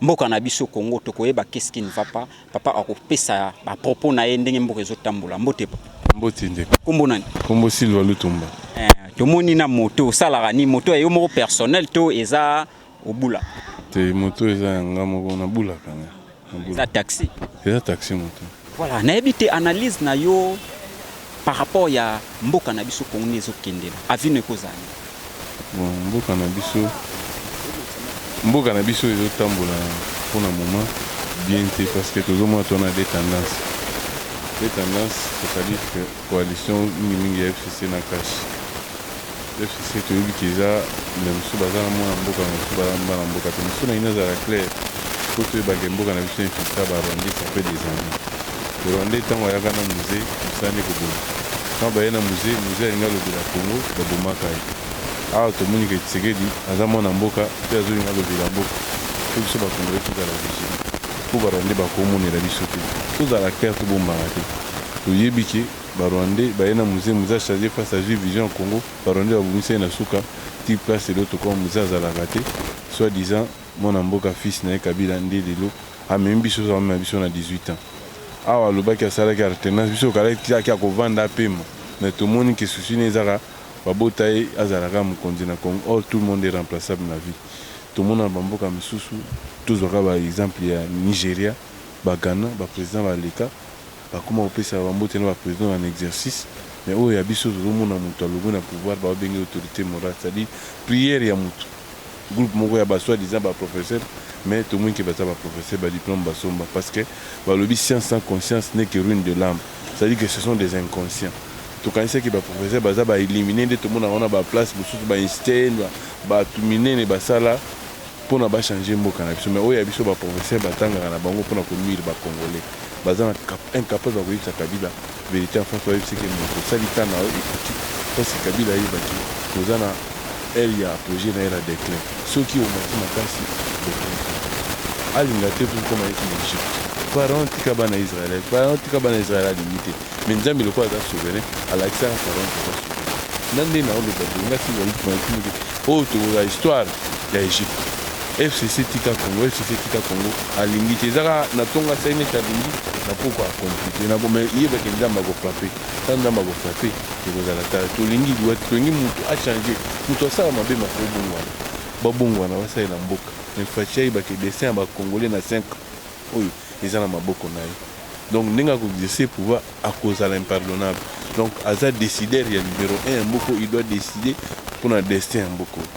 Mboka na biso Congo tokoyeba qu'est ce qui ne va pas. Papa akopesa ba propos na ye ndenge mboka ezo tambola. Mbote papa. Mbote ndeko. Kombo nani? Kombo Silva Lutumba. Eh, tomoni na moto osalaka ni moto ya yo moko personnel to eza obula? Te moto eza ya nga moko nabulaka. Eza taxi? Eza taxi moto. Voilà, nayebi te analyse na yo par rapport ya mboka na biso Congo ezo kendela. Avis no ekozala. Bon, mboka na biso mboka na biso ezo tambola pour le moment bien te parce que tozo mona to na des tendances. Des tendances, c'est-à-dire que coalition mingi mingi ya FCC na cash. FCC toyebi que eza mais mosusu baza na mwana mboka mais mosusu baza mwana mboka te mosusu na ino azala claire po toyeba ke mboka na biso infiltra ba rwandais ça fait des années rwandais ntango ayaka na musee mosala nde koboma ntango baye na musee musee alingi alobela congo babomaka ye awa tomoni ke tshisekedi aza mwana mboka pe azolinga alobela mboka po biso ba congolais tozala vigilant po ba rwandais bakomonela biso te tozala claire tobombana te toyebi ke Ba rwandais baye na muze, muze achange face azui vision ya congo, ba rwandais babomisa ye na suka tii place lelo tokoma muze azalaka te, soit disant mwana mboka fils naye kabila nde lelo amemi biso azo mema biso na 18 ans awa alobaki asalaki artenance biso tokalaki ti akia kovanda apema mais tomoni ke souci naye ezaka babota ye azala kaka mokonzi na congo or tout le monde est remplaçable na vie tomona na ba mboka misusu tozwa kaka ba exemple ya nigeria ba ghana ba president baleka Bakoma kopesa ba mbote na ba presidents en exercice mais oyo ya biso tozo mona mutu alongwe na pouvoir bazo benga ye autorite morale c'est à dire prière ya mutu groupe moko ya ba soit disant ba professeurs mais tomoni ke baza ba professeurs ba diplomes basomba parce que balobi science sans conscience n'est que ruine de l'ame c'est à dire que ce sont des inconscients tokanisaki ba professeurs baza ba illuminee nde tomonaka wana ba place mususu ba Einstein batu minene basala Pona ba changer mboka na biso mais oyo ya biso ba professeurs ba tangaka na bango pona ko nuire ba congolais baza na cap incapable ya koyebisa kabila verite en face bayebisa ke mutu osali temps na yo ekoki parce que kabila ayeba ke toza na heure ya apogee naye na declin soki omati makasi declin alinga te po okoma neti na egypte Pharaon tika bana Israël Pharaon tika bana Israël alingi te. Mais Nzambe lokola aza souverain, alakisaka Pharaon que aza souverain. Nga nde nao loba boye, nga soki nayoki mayoki moke, oyo tokozala histoire ya Egypte. FCC tika Congo, FCC tika Congo, alingi te. Eza kaka na tongo asali neti alingi, na pokwa a complete na ko, mais yeba que Nzambe ako frapper. Tango Nzambe ako frapper, ekozala tard. Tolingi liwa te, tolingi mutu a changer, mutu asala mabe ma ko bongwana, ba bongwana, ba salela mboka. Mais Fatshi ayeba que destin ya ba Congolais na cinq ans, oyo eza na maboko na ye donc ndenge ako exercer pouvoir akozala impardonnable donc aza decidaire ya numero un ya mboka oyo il doit decider pona destin ya mboka oyo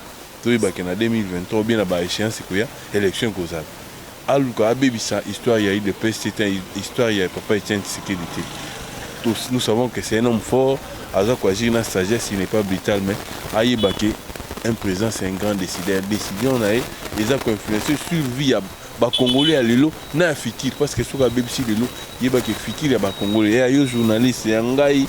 toyeba ke na 2023 ou bien na ba echeance ekoya election ekozala aluka abebisa histoire ya udps te te histoire ya papa Etienne Tshisekedi te tous nous savons que c'est un homme fort aza ko agir na sagesse il n'est pas brutal mais ayeba ke un président c'est un grand decidaire decision na ye eza ko influencer sur vie ya Ba congolais ya lelo na ya futur parce que soki abebisi lelo yeba ke futur ya ba congolais ya yo journaliste ya ngai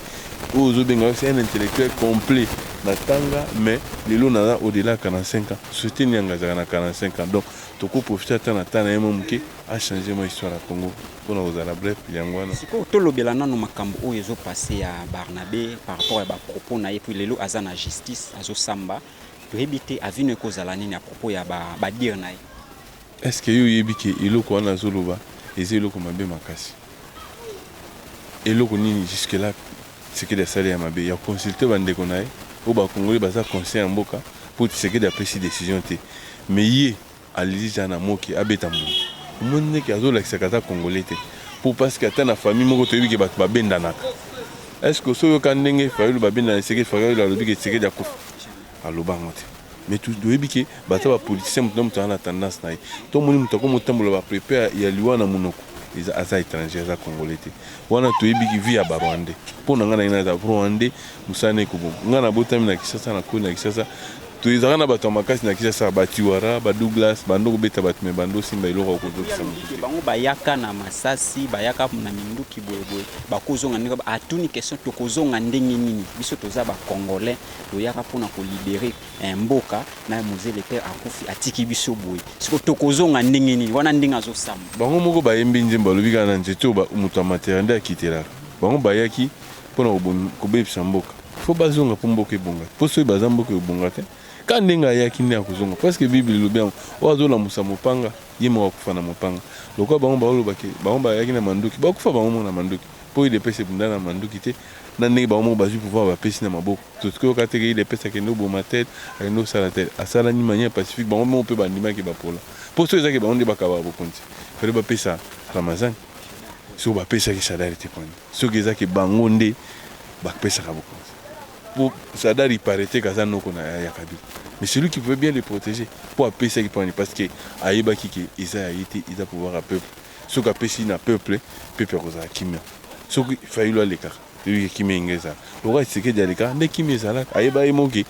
oyo ozo benga yo c'est un intellectuel complet na tanga mais lelo naza au delà 45 ans société nini yanga azalaka na 45 ans donc toko profiter ata na temps na ye mwa muke a changer mwa histoire ya Congo pona kozala bref yango wana. Sikoyo tolobela nanu makambo oyo ezo passer ya Barnabe par rapport ya ba propos na ye puis lelo aza na justice azo samba toyebi te avenue ekozala nini à propos ya ba dire na ye. Est ce que yo oyebi que eloko wana azo loba eza eloko mabe makasi? Eloko nini jusque là Tshisekedi asali ya mabe? Ya ko consulter ba ndeko na ye oyo ba congolais baza conscient ya mboka po Tshisekedi apesi decision te mais ye aleli ja na moke abeta mbuma. Omoni nde que azo lakisa que aza congolais te po parce que ata na famille moko toyebi que batu ba bendanaka. Est ce que osi oyoka ndenge Fayulu ba bendana Tshisekedi, Fayulu alobi que Tshisekedi akufi? Aloba yango te. Mais tu dois dire que bata ba politiciens mutu na mutu ana tendance na ye. To moni mutu akomo tambola ba prepare ya liwa na munoko. Eza aza etranger aza congolais te. Wana to yebi ki vie ya ba rwandais. Po na nga na ina za rwandais musala na eko boma. Nga na botami na Kinshasa na koli na Kinshasa. To ezaka na batu ya makasi na Kinshasa ba tiwara, ba douglas, ba ndo ko beta batu mais ba ndo simba eloko oko zokisa mutu te. Bango ba yaka na masasi ba yaka na minduki boye boye ba ko zonga ndenge ba atuni question toko zonga ndenge nini biso toza ba congolais toyaka pona ko libere eh, mboka na mzee le père akufi atiki biso boye siko tokozonga ndenge nini wana ndenge azosamba bango moko bayembi nzembo balobi kaka na nzete oyo moto amatela nde akitelaka bango bayaki pona kobebisa mboka fo bazonga mpo mboka ebonga mpo soki baza mboka ebonga te ka ndenge ayaki nde akozonga parceke bible elobi yango oyo azolamusa mopanga ye moko akufa na mopanga lokola bango baolobaki bango bayaki na manduki bakufa bango moko na manduki mpo idps ebunda na manduki te Nani ndenge bango moko bazui pouvoir ba pesi na maboko tosi koyoka te ke udps akende oboma tel akende osala tel asala ni manière pacifique bango moko pe bandimaki ba pola po soki eza ke bango nde bakabaka bokonzi fallait ba pesa ramazan soki ba pesaki sadari te pona soki eza ke bango nde ba pesaka bokonzi po sadari parete kaza noko na ya kabila mais celui qui pouvait bien le protéger po apesaki pona ni parce que ayebaki ke eza ya ye te eza pouvoir ya peuple soki apesi na peuple peuple akozala kimia soki fayulu alekaka toyebi ke kimia inga ezala lokola tshisekedi alekaka nde kimia ezalaka ayeba ye moke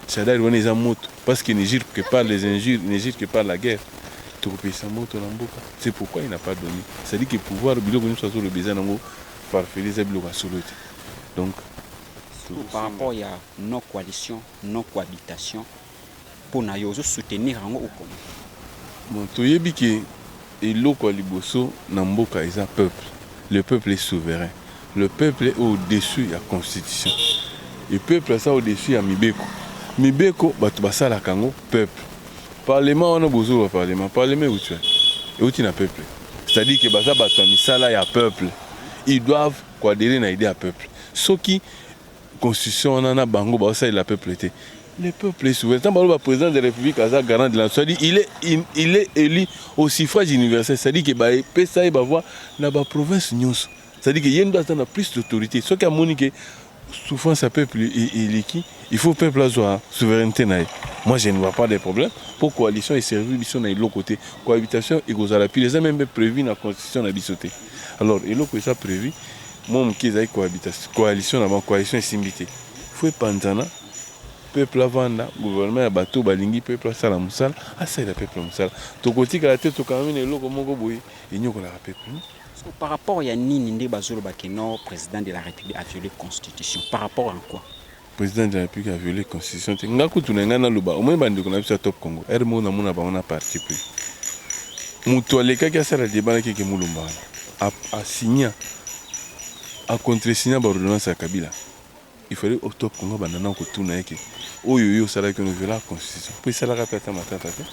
shadari wana eza moto parce que ne jure que par les injures ne jure que par la guerre tokopesa moto na mboka c'est pourquoi il n'a pas donné c'est à dire que pouvoir biloko nyonso azoloba eza nango farfeli eza biloko ya solo te donc Surtout par rapport ya non coalition, non cohabitation, pona yo ozo soutenir yango ou comment? Bon toyebi ke eloko ya liboso na mboka eza peuple le peuple est souverain le peuple est au dessus ya constitution et peuple aza au dessus ya mibeko mibeko batu basalaka yango peuple parlement wana bozo loba parlement parlement ewuti wapi ewuti na peuple c'est à dire ke baza batu ya misala ya peuple ils doivent ko adherer na idee ya peuple soki Constitution wana na bango ba salela peuple te. Le peuple est souverain. Tant baloba président de la République aza garant de la nation, dit il est in, il est élu au suffrage universel, c'est-à-dire que ba pesa ye ba voix na ba provinces nyonso. C'est-à-dire que yendo aza na plus d'autorité. Ce qui a moni que souffrance à peuple eleki, il faut peuple azwa souveraineté na ye. Moi je ne vois pas de problème. Pour coalition et servir biso na eloko te. Cohabitation ekozala pire, eza même prévu na constitution na biso te. Alors eloko eza prevu mwa moke ezali cohabitation, coalition na bango, coalition esimbi te, faut epanzana peuple avanda, gouvernement ya bato balingi peuple asala mosala, asalela peuple mosala. Tokotikala te tokangami na eloko moko boye enyokolaka peuple. Non. So, par rapport ya nini nde bazoloba que non president de la republique a viole constitution par rapport en quoi? President de la Republique a viole constitution te. Nga kutu na nga naloba, omoni ba ndeko na biso ya Top Congo, heure moko namona bango na parti pris. Mutu alekaki asala debat na Keke Mulumba wana, a, a signa, a contresigna ba ordonnance ya Kabila. Il fallait au Top Congo abanda nao kotuna ye ke, oyo yo osalaki wana o violaka constitution? Po esalaka pe ata matata te.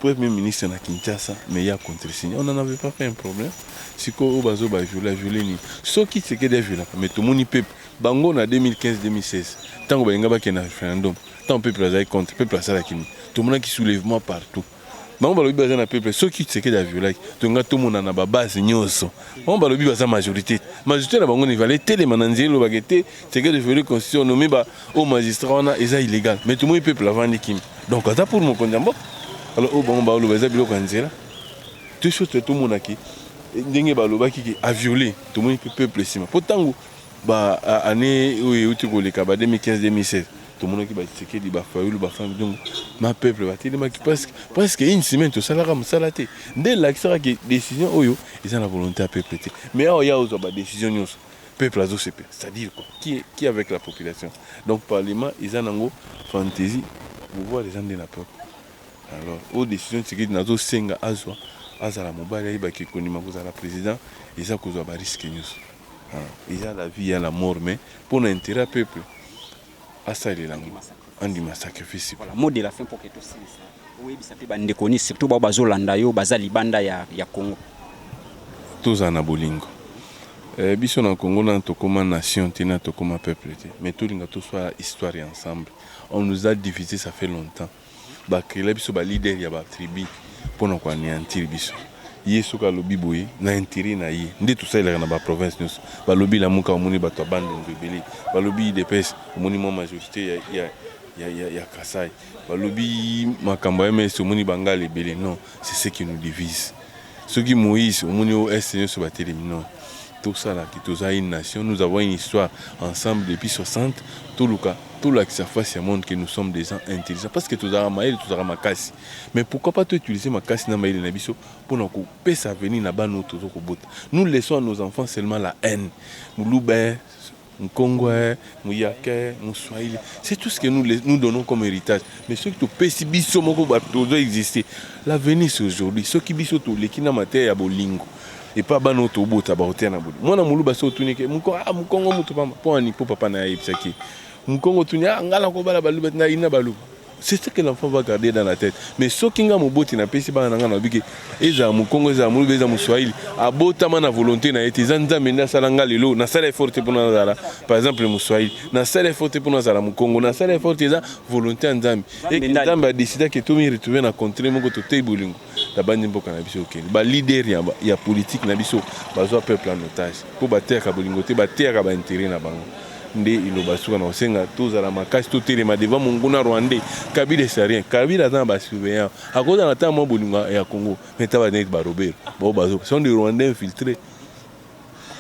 Premier ministre na Kinshasa mais ye a contresigner on en avait pas fait un problème sikoyo oyo bazo ba violer a violer nini soki Tshisekedi a violaka mais tomoni peuple bango na 2015 2016 tango balinga bakende na referendum tango peuple azalaki contre peuple asalaki nini tomonaki soulevement partout bango balobi baza na peuple soki Tshisekedi a violaki tolinga tomona na ba base nyonso bango balobi baza majorité majorité na bango ne valait telema na nzela elobaka ete ce que je voulais constitution nomi ba au magistrat wana eza illégal mais tout le monde peuple avandi kim donc aza pour mon konza mboka alors au bango ba loba eza biloko nzela tout chose tout monde qui ndenge ba loba ki a violer tout le monde peuple sima po tangu ba année où il uti koleka ba 2015 2016 tout le monde qui ba tseke di ba fayulu ba femme donc ma peuple ba tele maki presque presque une semaine tout ça la comme ça la té dès l'accès que décision oyo ils ont la volonté à peuple mais awa ya ozo ba décision nyonso peuple azo sepela c'est à dire quoi qui est, qui est avec la population donc parlement eza nango fantaisie pouvoir eza nde na peuple alors oyo décision tshisekedi nazo senga azwa azala mobali ayeba ke kondima kozala président eza kozwa ba risque nyonso Ah, eza la vie ya la mort mais mpo na intérêt ya peuple asalela ngo andima sacrifice. Voilà mot de la fin pour que tout silisa. Oyebisa pe ba ndeko ni surtout ba bazo landa yo baza libanda ya ya Congo. Toza na bolingo. Eh, biso na Congo na tokoma nation te na tokoma peuple te mais tolinga toswa histoire ensemble on nous a divisé ça fait longtemps ba creela biso ba leader ya ba tribu pona ko aneantir biso ye soki alobi boye na interet na ye nde tosalelaka na ba province nyonso balobi lamuka omoni bato ya bandundu ebele balobi idps omoni mwa majorité ya, ya, ya, ya, ya kasai balobi makambo ya ms omoni bangala ebele non c'est ce qui nous divise Soki Moïse omoni o Est nioso batelemi non tosala te toza une nation nous avons une histoire ensemble depuis 60 toluka tolakisa face ya monde que nous sommes des gens intelligents parce que tozalaka mayele tozalaka makasi mais pourquoi pas to utiliser makasi na mayele na biso pona kopesa avenir na bana oyo tozo kobota nous laissons à nos enfants seulement la haine muluba Nkongwè, muyakè, muswahili c'est tout ce que nous nous donnons comme heritage mais soki topesi biso moko batu tozo exister l'avenir c'est aujourd'hui soki biso toleki na mateya ya bolingo epa bana oyo tobota bakoteya na bolingo mwana muluba soki otuni ke muko ah mukongo mutu pamba pona nini po papa na ye ayebisaki ye mukongo otuni ah nga nakobala baluba te nayina baluba c'est ce que l'enfant va garder dans la tête mais soki nga moboti napesi bana na nga nalobi ke ezala mokongo ezala moluba ezala moswahili abotama na volonté na ye te eza nzambe nde asala nga lelo nasala effort te mpona nazala par exemple moswahili nasala effort te mpona nazala mokongo nasala effort te eza volonté ya nzambe eke nzambe adesida ke tomi retrouve na contrée moko toteyi bolingo Nabandi mboka na biso okende. Ba leader ya, ya politique na biso bazwa peuple en otage mpo bateyaka bolingo te, bateyaka ba interet na bango. Nde iloba suka na kosenga tozala makasi, totelema devant monguna rwandais. Kabila est rien. Kabila aza na ba surveillants. Akozala ata mwa bolingo ya Congo. Mais taba neti ba Robert. Bao bazo. Ce sont des rwandais infiltrés.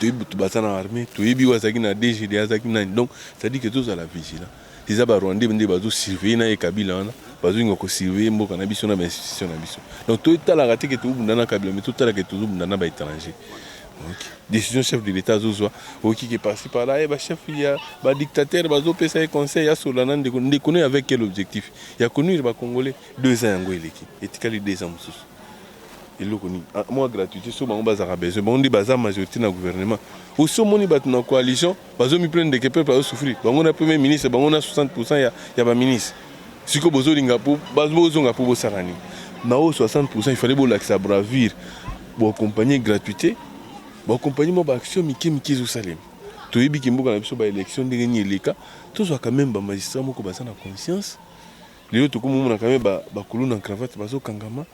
Toyebi bato baza na armée, toyebi oyo azalaki na DGD, azalaki nani. Donc, c'est-à-dire que tozala vigilant. Eza ba rwandais nde bazo surveiller naye kabila wana bazo linga ko surveiller mboka na biso na ba institution na biso donc to talaka te ke to bunda na kabila mais to tala ke tozo bunda na ba etranger donc decision chef de l'etat azo zwa oki ke par ci par là eh, ba chef ya ba dictateur bazo pesa ye conseil ya sola na ndeko ndeko ne avec quel objectif ya ko nuire ba congolais deux ans yango eleki etikali deux ans mususu eloko nini ah, mwa gratuité so bango bazalaka besoin bango nde baza majorité na gouvernement osi omoni bato na coalition bazo mi plaindre que peuple azo souffrir bango na premier ministre bango na 60% ya ya ba ministre siko bozo linga po bazo zonga po bosala ni na o 60% il fallait bolakisa bravure bo accompagner gratuité bo accompagner mo ba action mike mike zo salema toyebi ki mboka na biso ba élection ndenge ni eleka tozwa quand même ba magistrat moko baza na conscience lelo tokomomona quand même ba ba kuluna en cravate bazo kangama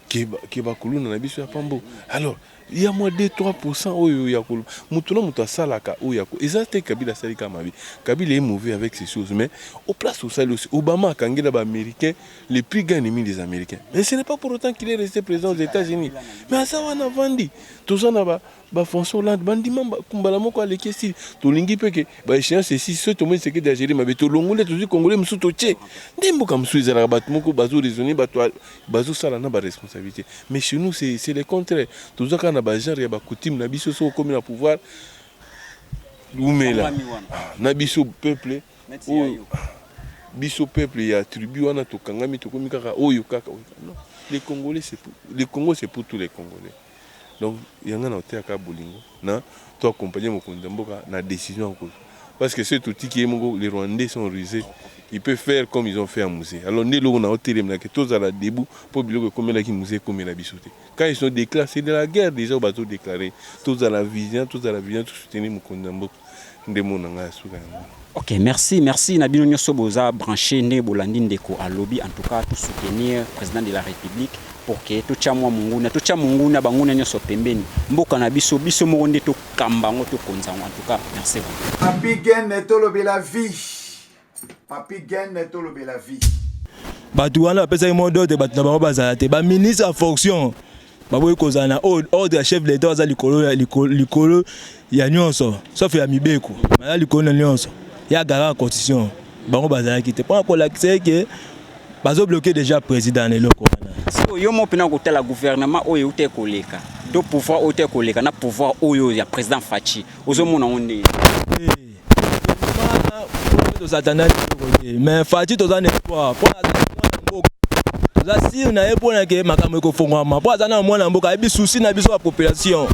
ke ba, ke ba kuluna na biso ya pambo alors ya mua deux trois pourcent oyo ya koloba mutu na mutu asalaka oyo ako eza te kabila asali kaka mabe kabila est mauvais avec ceci ou ce mais au place osali osi obama akangela ba americain le plus grand ennemi des americain mais ce n'est pas pour autant qu'il est resté président aux etats unis mais aza wana avandi toza na ba ba français hollande bandima mba- mbala moko aleki esili tolingi mpe ke ba échéance esisi soki tomoni sekedi ageli mabe tolongoli tozwi congolais mosusu totie nde mboka mosusu ezalaka bato moko bazo raisonne bato ya- Bazo sala na ba responsabilite mais chez nous c'est le contraire toza kaka na ba genre ya ba coutume na biso soki okomi na pouvoir wumela ah, na biso peuple oyo ah, biso peuple ya tribu wana tokangami tokomi kaka oyo kaka non les congolais c'est le congo c'est pour tous les congolais Donc ya nga na koteya kaka bolingo na to accompagner mokonzi ya mboka na decision ya kozwa parce que soki totiki ye moko les rwandais sont ruses il peut faire comme ils ont fait à Muzee alors nde eloko na kotelemela que tozala debout mpo biloko ekomelaki Muzee ekomela biso te quand ils sont declare c'est de la guerre dejà oyo bazo declare tozala vigilant tozala vigilant to soutenir mokonzi ya mboka nde mot na ngai ya suka yango wana. Ok, merci, merci na bino nyoso boza branche ndenge bolandi ndeko alobi. En tout cas, to soutenir president de la republique pour que totya mwa monguna, totya monguna banguna nyoso pembeni. Mboka na biso, biso moko nde tokamba yango, tokonza yango. En tout cas, merci vraiment. Papy Gene tolobela vie Papi Gene tolobela vie. Bato wana bapesaki mot d'ordre bato na bango bazala te. Ba ministre ya fonction baboyi kozala na ordre ya chef de l'État aza likolo ya likolo ya nyonso sauf ya mibeko. Baza likolo na nyonso. Ya garant constitution bango bazalaki te. Pona kolakisa eke bazo bloquer déjà président na eloko wana. Siko yo moko pena kotala gouvernement oyo euta ekoleka to pouvoir oyo euta ekoleka na pouvoir oyo ya président Fatshi ozomona yango ndenge. Eh. tozata na biloko te mais fati toza na espoir mpo aza na mwana mboka toza sire na ye mpo na ke makambo ekofongwama mpo aza na mwana mboka ayebi susi na biso ya population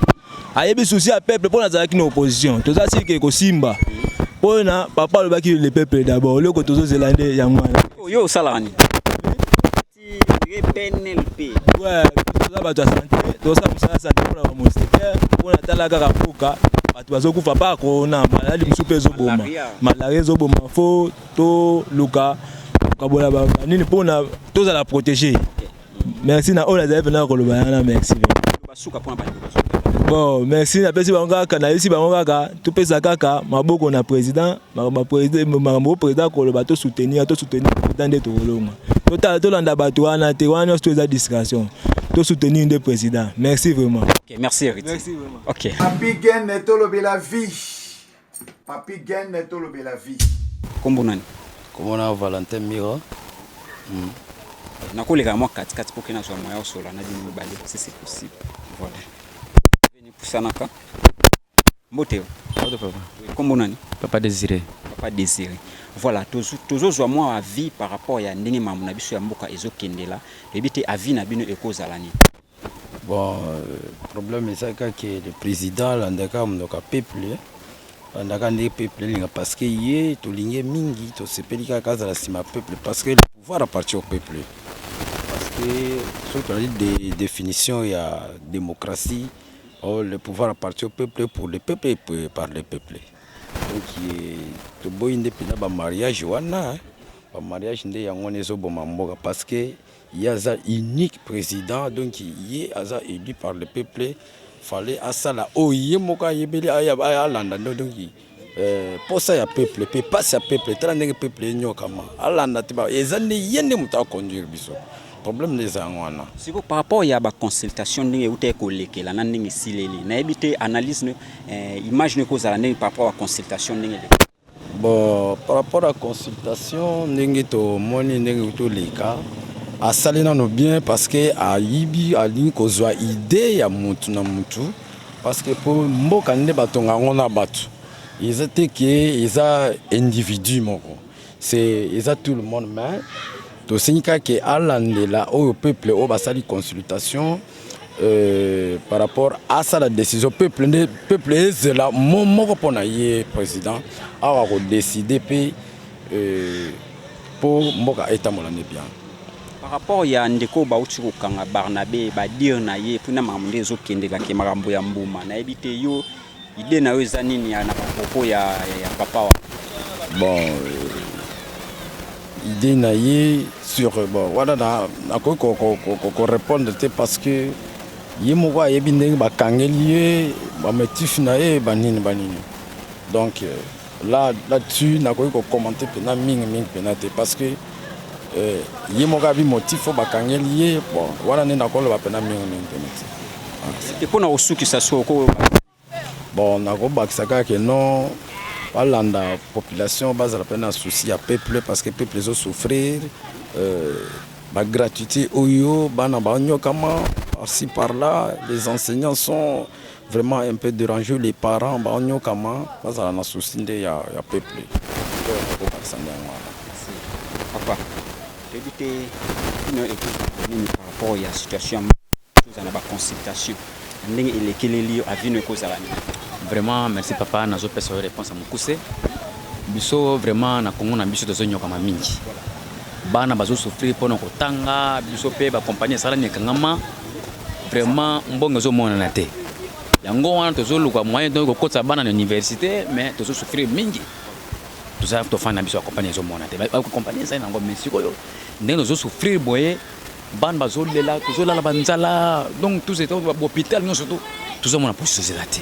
ayebi susi ya peuple mpo nazalaki na opposition toza sire ke ekosimba mpo na papa alobaki le peuple d'abord eloko tozozela nde yango wana yo osalaka nini toza bato ya sante tozosala mosala sante mpona bamoustikere mpona tala kaka mboka bato bazokufa mpa corona maladi mosusu mpe ezoboma malaria ezoboma fo toluka kokabola banini mpona tozala protege merci na oyo nazali mpena koloba yana merci bon merci napesi bango kaka nayebisi bango kaka topesa kaka maboko na président makambo oyo president akoloba to soutenir to soutenir president nde tokolonga totala tolanda bato wana te wana nyonso to eza distraction to soutenir nde president merci vraiment okay, merci héritier merci vraiment okay papi gene tolobela vie papi gene tolobela vie kombo nani kombo na valentin miro mm. nakoleka mwa katikati mpo ke nazwa moya osola na bino mibale si c'est possible voilà pusanaka Mbote. Mbote papa. Kombo nani? Papa Desire. Papa Desire. Voilà, tozozwa mwa avis par rapport ya ndenge mamu na biso ya mboka ezokendela ebi te avis na bino ekozala nini? Bon, euh, problème eza kaka ke le président alandaka monoko ya peuple alandaka nde peuple elinga parce que ye tolingi ye mingi tosepeli kaka azala nsima ya peuple parce que le pouvoir appartient au peuple parce que soki tozali de définition ya démocratie Oh, le pouvoir appartient au peuple pour le peuple et pour- par le peuple. Donc eh, toboyi nde mpenza ba mariage wana hein. ba mariage nde yango wana ezoboma mboka parce que ye aza unique président donc ye aza élu par le peuple fallait asala oyo ye moko ayebeli aya- aya- alanda nde donc Eh, posa ya peuple pe pasi ya peuple tala ndenge peuple enyokama alanda te eza nde ye nde moto aconduire biso problème nde eza yango wana siko par rapport ya baconsultation ndenge euta ekolekela na ndenge esileli nayebi te analyse eh, image no ekozala ndenge par rapport ya consultation ndenge eleka bon par rapport ya consultation ndenge tomoni ndenge toleka asali nano bien parce que ayibi alingi kozwa idée ya motu na motu Parce que po mboka nde ba tonga yango na batu. Eza te que eza individu moko. C'est eza tout le monde mais to sengi kaka que alandela oyo peuple oyo basali consultation euh, par rapport à ça la décision peuple nde peuple ezela mo moko pona ye président awa ko décider pe euh, po mboka etambola nde bien. Par rapport ya ndeko oyo bauti kokanga Barnabe ba dire na ye mpo na makambo nde ezokendela ke makambo ya mbuma nayebi te yo idee na yo eza nini ya na bapropos ya, ya, ya papa wana bon euh, idee na ye sur bon wana nakoki ko, ko, ko, ko, ko répondre te parce que ye moko ayebi ndenge bakangeli ye bamotif na ye banini banini donc euh, Là, là dessus nakoki ko commenter pena mingi mingi pena te parce que eh, ye moko abi motif oyo bakangeli ye bon wana nde nakoloba pena mingi mingi pena te ah, mpo na kosukisa so ko bon nakobakisa kaka ke non balanda population bazala mpe na souci ya peuple parce que peuple ezosouffrir euh, bagratuité oyo bana banyokama par ci par là les enseignants sont Vraiment un peu derange les parents ba onyokama bazala na souci nde ya ya peuple papa toyebi te bino ekozala nini par rapport ya situation toza na baconsultation na ndenge elekeleli yo avino ekozala nini vraiment merci papa nazopesa yo réponse ya mokuse biso vraiment na kongo na biso tozonyokama mingi Bana bazo souffrir pona kotanga biso pe ba compagnie esalami ekangama vraiment mbongo ezo monana te yango wana tozo luka moyen donc kokotisa bana na université mais tozo souffrir mingi toza tofanda biso ya compagnie ezo mona te compagnie ezali nango mais sikoyo ndenge tozo souffrir boye bana bazolela tozolala banzala donc tous hôpital nyonso to tozomona position ezela te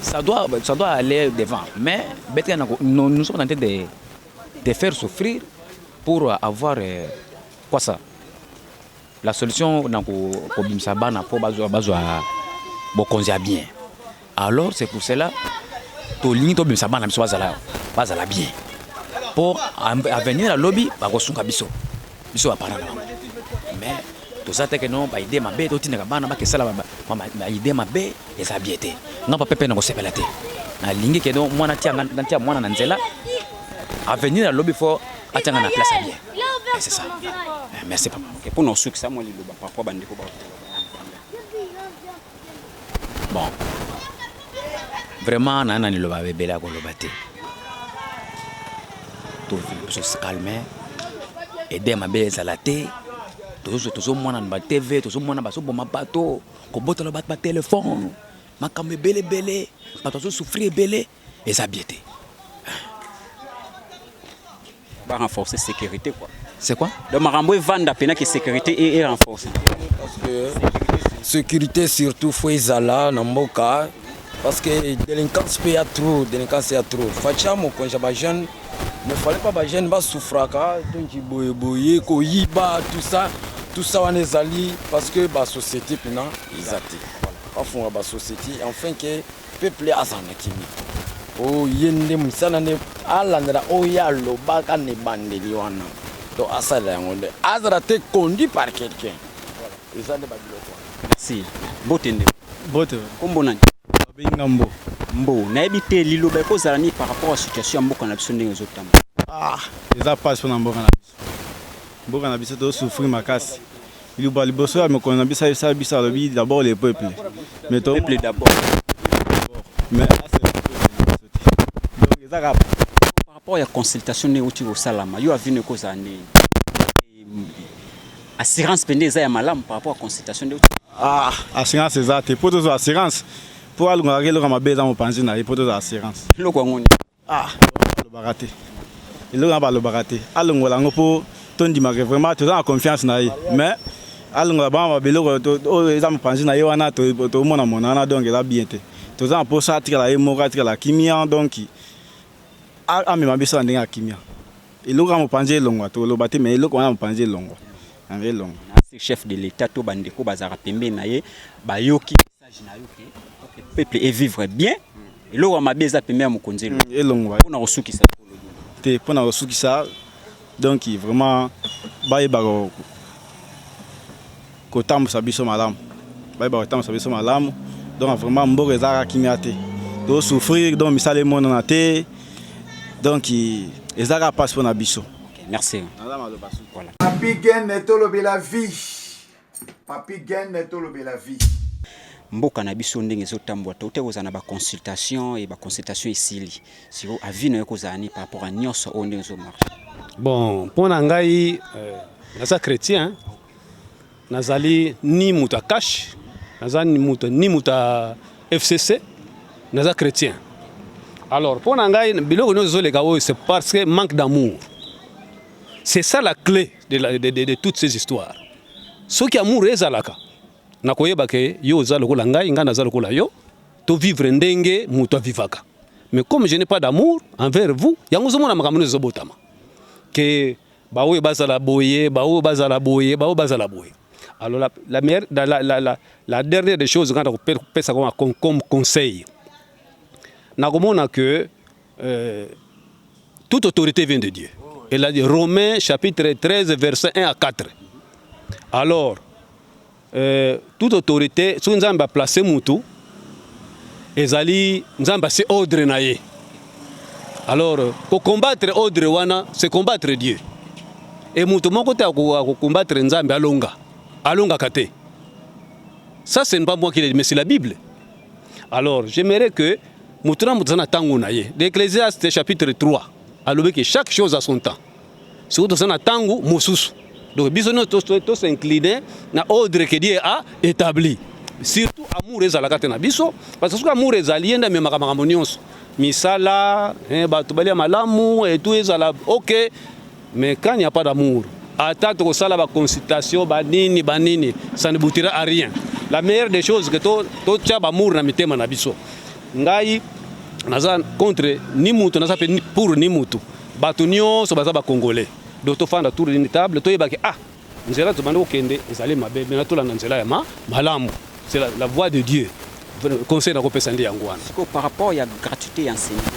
ça doit, ça doit aller devant. Mais nous, nous sommes en train de, de faire souffrir pour avoir euh, quoi ça La solution, kobimisa bana po bazwa bazwa bokonzi ya bien. Alors c'est pour cela tolingi tobimisa bana biso bazala bazala bien. Po avenir ya lobi bakosunga biso. biso ba parents na bango mais toza te ke non ba idee mabe totindaka bana bakesala ba idee mabe eza bie te nga papa mpe nakosepela te nalingi ke non mwana tia natia mwana na nzela avenir ya lobi fo atianga na place ya bien eh, c'est ça eh, merci papa mpo na osukisa mwa liloba parapoi bandeko ba Bon. Vraiment na na liloba bebele ya koloba te. To se calmer. Ede mabe ezala te. Tozo tozo mwana na ba TV, tozo mwana baso boma bato, kobotola bato ba telefone. Makambo ebele ebele, bato bazo souffrir ebele. eza bien te ba renforcer sécurité quoi c'est quoi donc makambo evanda pena que sécurité et, et renforcer parce que sécurité surtout faut ezala na mboka parce que délinquance pe ya trop délinquance ya trop facha mokonzi ya bajeune ne fallait pas bajeune basouffraka donc boyeboye koyiba tout ça tout ça wana ezali parce que basociété mpena eza te bafunga basociété enfin ke peuple azala na kimia oyo ye nde mosala nde alandela oyo ye alobaka na ebandeli wana to asalela yango nde azala te conduit par quelqu'un eza nde babiloko wana merci bote nde bote kombo nani babenga mbo mbo nayebi te liloba ekozala nini par rapport ya situation ya mboka na biso ndenge ezotambola ah eza pasi mpona mboka na biso Mboka na biso to souffrir makasi. Liloba liboso ya mokonzi na biso ayebisa biso alobi d'abord le peuple. Mais to peuple d'abord. Mais donc eza kaka par rapport ya consultation nde euti kosalama yo avis no ekozala ndenge assurance mpe nde eza ya malamu par rapport ya consultation nde ah, assurance eza te mpo tozwa assurance mpo alongaka eloko mabe eza mopanzi na ye mpo tozwa assurance eloko yango Ah, balobaka te. Eloko na balobaka te. Alongola yango po tondima ke vraiment toza na confiance na ye. Mais alongola bango ba biloko to- to- oyo eza mopanzi na ye wana to- tomona mona wana donc eza bien te. Toza na posa atikala ye moko atikala kimia donc a- amema biso na ndenge ya kimia. Eloko ya mopanzi elongwa toloba te mais eloko wana ya mopanzi elongwa. Yango elongwa. chef de l'etat to bandeko bazalaka pembeni na ye bayoki peuple e vivre bien eloko ya mabe eza pembe ya mokonzi elo mm, elongwa mpona kosukisa te mpona kosukisa donc vraiment bayeba kotambusa biso malamu bayeba kotambusa biso malamu donc vraiment mboka ezalaka kimia te tosouffrir donc misala emonana te donc ezalaka mpasi mpona biso merci voilà. apigene tolobela vie Papi Gene tolobela vie. Mboka na biso ndenge ezotambwa tote kozala na baconsultation e baconsultation esili siko avis na yo kozala nini par rapport ya nyonso oyo ndenge ezomarche bon mpo na ngai euh, naza chrétien nazali ni moto ya cash naza ni moto ni moto ya fcc naza chrétien alors mpo na ngai biloko nyonso ezoleka oyo c'est parce que manque d'amour c'est ça la clé de, la, de, de, de toutes ces histoires soki amour ezalaka na koyeba ke yo oza lokola ngai ngai naza lokola yo to vivre ndenge moto avivaka mais comme je n'ai pas d'amour envers vous yango ozomona makambo nde ezobotama ke baoyo bazala boye baoyo bazala boye baoyo bazala boye alors la, la, meilleure, la, la, la, la, la dernière des choses ngai nakopesa koma comme conseil nakomona que Euh, toute autorité vient de Dieu. Elle a dit Romains chapitre 13 verset 1 à 4. Alors euh, toute autorité soki Nzambe a placer mutu ezali Nzambe a se ordre na ye. Alors ko combattre ordre wana c'est combattre Dieu. Et mutu moko te ko combattre Nzambe alonga. Alonga kate. Ça c'est pas moi qui l'ai dit mais c'est la Bible. Alors, j'aimerais que moto na moto aza na ntango na ye. L'Ecclésiaste chapitre 3 alobi que chaque chose a son temps. Soki toza na ntango mosusu. Donc biso nyonso to s'incliner na ordre que Dieu a établi. Surtout amour ezalaka te na biso parce que soki amour ezali ye nde amemaka makambo nyonso. Misala, eh, bato balia malamu etu ezala okay. Mais quand il n'y a pas d'amour, ata tokosala ba consultation ba nini ba nini, ça ne boutira à rien. La meilleure des choses que to to tia ba amour na mitema na biso. Ngai naza contre ni mutu naza pe pour ni mutu. Bato nyonso baza ba congolais. Donc tofanda tour d'une table toyebaki ah Nzela tobandi kokende ezali mabe, mais tolanda nzela ya ma malamu, c'est la, la voie de Dieu. Conseil nakopesa nde yango wana. Siko par rapport ya gratuité ya enseignement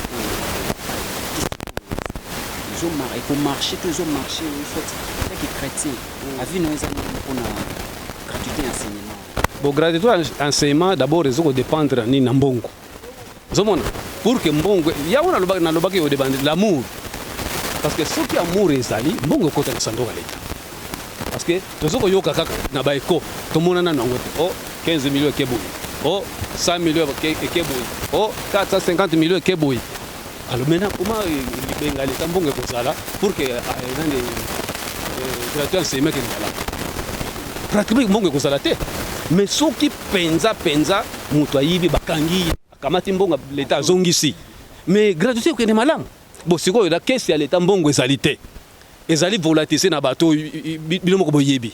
ezo mara eko marcher to ezo marcher il faut être que chrétien avis na eza nini mpona gratuité ya enseignement Bon, gratuité ya enseignement d'abord ezo ko dépendre ya nini na mbongo ozomona pour que mbongo yango nalobaki yo debande l'amour parce que soki amour ezali mbongo ekota na sanduku ya leta parce que tozo koyoka kaka na baeko tomonana nango te o 15 milio ekeboyi o 100 milio ekeboyi o 450 milio ekeboyi Alors maintenant, comment euh, les Bengalais, tant bon que vous allez, pour que euh, dans les euh, gratuits enseignements que vous allez, pratiquement bon que vous allez, mais ceux qui penza penza, mutu ayibi bakangi, akamati mbonga leta azongisi. Mais gratuité okende malamu. Bo sikoyo la kesi ya leta mbongo ezali te. Ezali volatiliser na bato bino moko boyebi.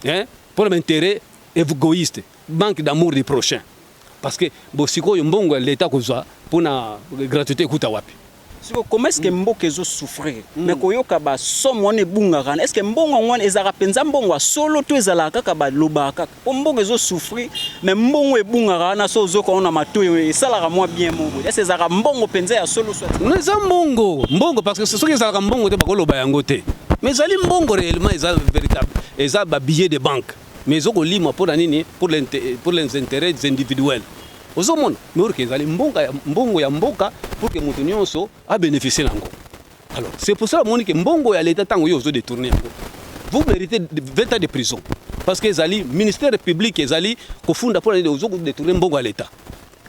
Hein? Pour l'intérêt égoïste, banque d'amour du prochain. parce que bo sikoyo mbongo ya leta kozwa pona gratuité ekuta wapi siko comment est-ce que mm. mboka ezo souffrir mm. mais koyoka ba somme wana ebungaka wana est-ce que mbongo yango wana ezalaka mpenza mbongo ya solo to ezalaka kaka balobaka kaka mpo mbongo ezo souffrir mais mbongo ebungaka wana so ozoka wana matoi esalaka mwa bien moko est-ce ezalaka mbongo mpenza ya solo soit eza mbongo mbongo parce que soki ezalaka mbongo te bakoloba yango te mais ezali mbongo réellement eza véritable eza ba billet de banque mais ezo ko limwa pona nini pour les pour les intérêts individuels ozo mona mais orke ezali mbongo ya mbongo ya mboka pour que mutu nionso a bénéficier nango alors c'est pour ça omoni que mbongo ya l'État tango yo ozo détourner yango vous méritez 20 ans de prison parce que ezali ministère public ezali kofunda pona nini ozo ko détourner mbongo ya l'État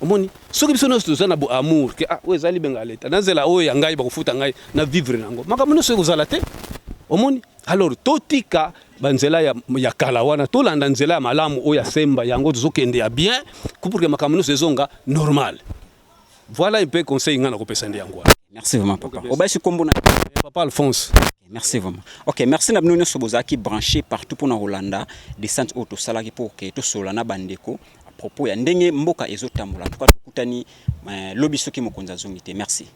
omoni soki biso nyonso toza na amour ke ah oyo ezali benga leta na nzela oyo ya ngai bakofuta ngai na vivre na yango makambo nyonso ekozala te omoni Alors totika ba nzela ya, ya kala wana tolanda nzela ya malamu oyo ya semba yango tozokende ya bien pour que makambo nyonso ezonga normal voilà un peu conseil ngai nakopesa nde yango merci vraiment papa obashi kombo na eh, papa alphonse merci vraiment ok merci na bino nyonso bozalaki branché partout mpona kolanda descente oyo tosalaki mpo ke tosolola na bandeko à propos ya ndenge mboka ezotambola en tout cas tokutani eh, lobi soki mokonzi azongi te merci